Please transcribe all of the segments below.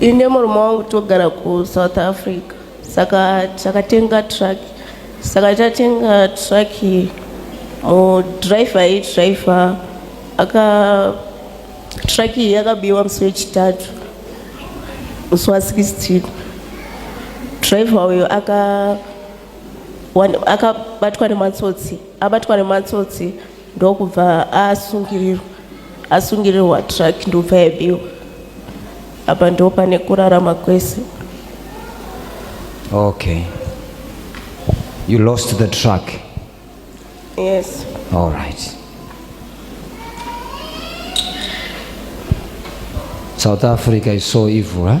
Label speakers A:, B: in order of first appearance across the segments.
A: ine murume wangu togara kusouth africa saka takatenga truck saka tatenga truck mudriver aidriver aka truck iyi yakabiwa musi wechitatu musi wa 16 driver uyo aka akabatwa nematsotsi abatwa nematsotsi ndokubva asungirirwa asungirirwa truck ndobva yabiwa apa ndo pane kurarama kwese
B: okay you lost the truck
A: yes all
B: right south africa is so evil huh?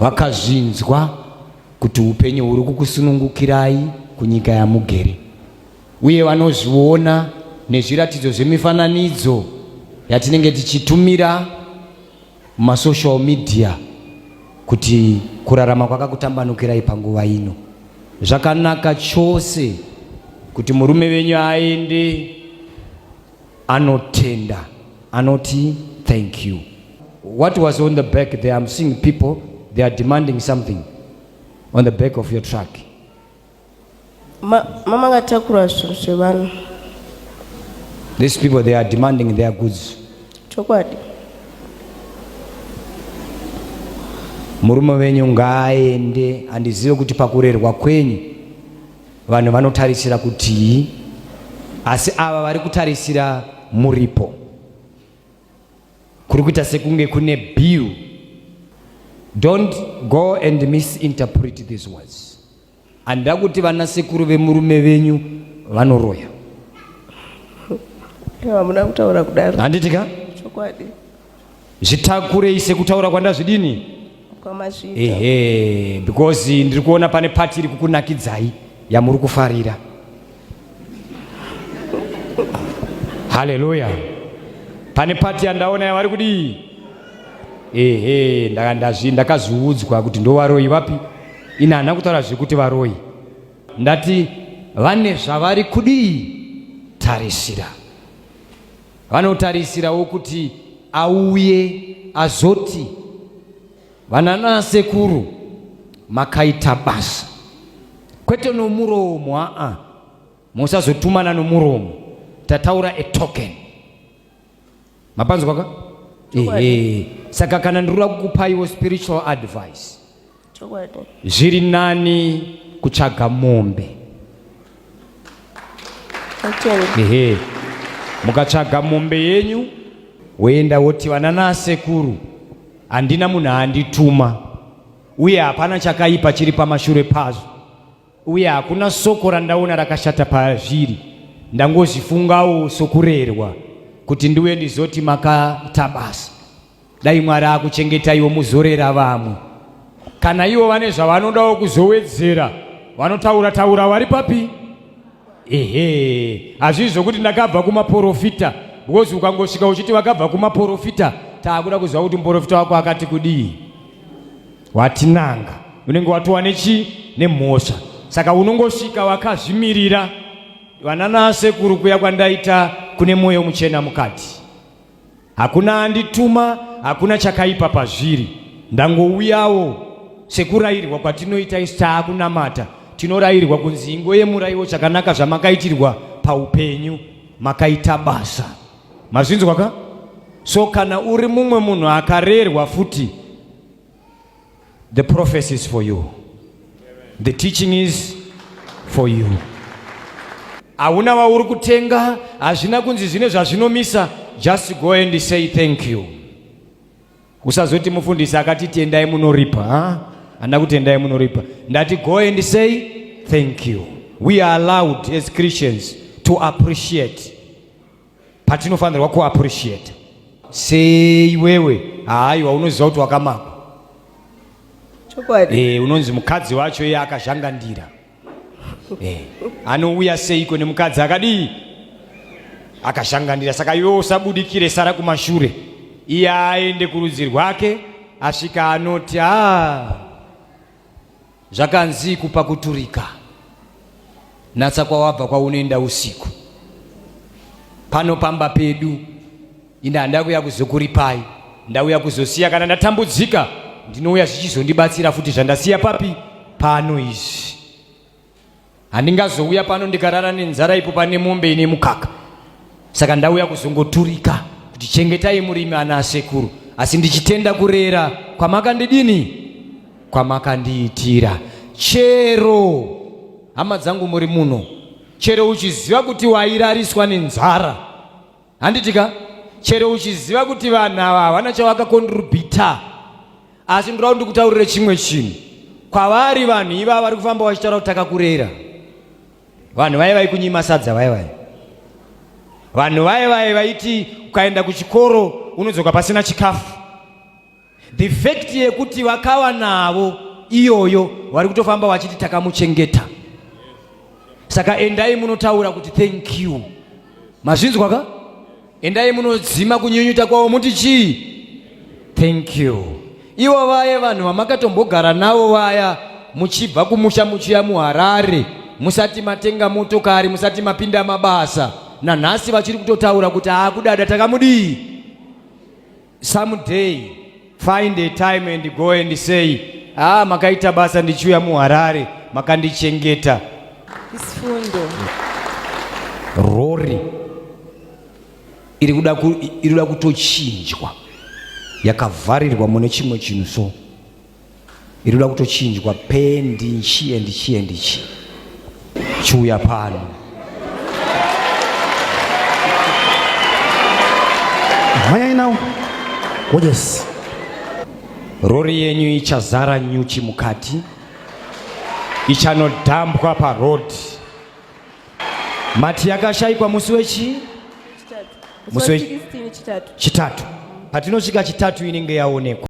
B: vakazvinzwa kuti upenyu huri kukusunungukirai kunyika yamugere uye vanozviona nezviratidzo zvemifananidzo yatinenge tichitumira mumasocial media kuti kurarama kwakakutambanukirai panguva ino zvakanaka chose kuti murume venyu aende Anotenda. Anoti thank you. What was on the back there? I'm seeing people, they are demanding something on the back of your truck. Ma,
A: mama akatakura zvinhu zvevanhu.
B: These people, they are demanding their goods. Chokwadi. Murume wenyu ngaaende andizive kuti pakurerwa kwenyu Vanhu vanotarisira kutii? Asi ava vari kutarisira muripo. Kuri kuita sekunge kune bill. Don't go and misinterpret these words. Handida kuti vana sekuru vemurume venyu vanoroya.
A: Hamuna kutaura kudaro. Handiti ka? Chokwadi.
B: zvitakurei sekutaura kwandazvidini ehe
A: because ndiri kuona pane
B: pati iri kukunakidzai yamuri kufarira haleluya pane pati yandaona yavari kudii ehe ndakaziudzwa kuti ndovaroyi vapi ini hana kutaura zvekuti varoyi ndati vane zvavari kudii tarisira Vanotarisirawo kuti auye azoti vananasekuru makaita basa kwete nomuromo aa musazotumana nomuromo tataura a token mapanzwaka ehe saka kana ndiri kuda kukupaiwo spiritual advice
A: zviri nani
B: kutsvaga mombe ehe mukatsvaga mombe yenyu woenda woti vanana sekuru handina munhu aandituma uye hapana chakaipa chiri pamashure pazvo uye hakuna soko randaona rakashata pazviri ndangozvifungawo sokurerwa kuti ndiuye ndizoti makatabasa Dai Mwari akuchengetaiwo muzorera vamwe. Kana ivo vane zvavanodawo kuzowedzera vanotaura taura vari papi? Ehe, hazvii zvokuti ndakabva kumaporofita because ukangosvika uchiti vakabva kumaporofita taakuda kuziva kuti muporofita wako akati kudii watinanga unenge watowa nechi nemhosva saka unongosvika wakazvimirira vananasekuru kuya kwandaita kune mwoyo muchena mukati Hakuna andituma, hakuna chakaipa pazviri. Ndangouyawo sekurairwa kwatinoita isu taakunamata. Tinorairwa kunzi ingoyemuraiwo chakanaka zvamakaitirwa paupenyu. Makaita basa. Mazvinzwa ka? So kana uri mumwe munhu akarerwa futi The prophecy is for you. The teaching is for you. Hauna wauri kutenga, hazvina kunzi zvine zvazvinomisa. Just go and say thank you. Usazoti mufundisi akati tendai munoripa. Ha? Handa kutendai munoripa. Ndati go and say thank you. We are allowed as Christians to appreciate patinofanirwa kuappreciate sei wewe haaiwa unoziva kuti wakamakwa chokwadi
A: eh, unonzi mukadzi wacho
B: iye akazhangandira eh, anouya seiko nemukadzi akadii akazhangandira saka iwe usabudikire sara kumashure iye aende kurudzi rwake asvika anoti aa ah, Zvakanzi kupa kuturika, natsa kwawabva kwaunoenda usiku. Pano pamba pedu, ini handauya kuya kuzokuripai, ndauya kuzosiya. Kana ndatambudzika, ndinouya zvichizondibatsira futi. Zvandasiya papi? Pano izvi. Handingazouya pano ndikarara nenzara ipo pane mombe ine mukaka. Saka ndauya kuzongoturika kuti chengetai murimi ana asekuru. Asi ndichitenda kurera kwamakandidini kwamakandiitira. Chero hama dzangu muri muno. Chero uchiziva kuti wairariswa nenzara. handiti ka chero uchiziva kuti vanhu ava havana chavakakondirubhita asi ndirau ndikutaurire chimwe chinhu kwavari vanhu iva vari kufamba vachitaura kuti takakurera vanhu vaye vaikunyima sadza vaye vaye vanhu vaye vaye vaiti ukaenda kuchikoro unodzoka pasina chikafu The fact yekuti vakawa navo iyoyo vari kutofamba wachiti takamuchengeta. Saka endai munotaura kuti thank you. Mazvinzwa ka? Endai munodzima kunyunyuta kwavo muti chii? Thank you. Ivo vaye vanhu vamakatombogara navo vaya muchibva kumusha muchiya muHarare musati matenga motokari musati mapinda mabasa nanhasi vachiri kutotaura kuti akudada takamudii someday find a time and go and say ah makaita basa ndichiuya muharare makandichengeta
A: isifundo
B: rori iri kuda ku- iri kuda kutochinjwa yakavharirwa mune chimwe chinhu so iri kuda kutochinjwa pendi nchi and chi and chi chiuya pano
C: mhanyai nawo yes
B: rori yenyu ichazara nyuchi mukati ichanodhambwa parhodhi mati yakashaikwa musi wechi musi wechitatu patinosvika chitatu inenge yaonekwa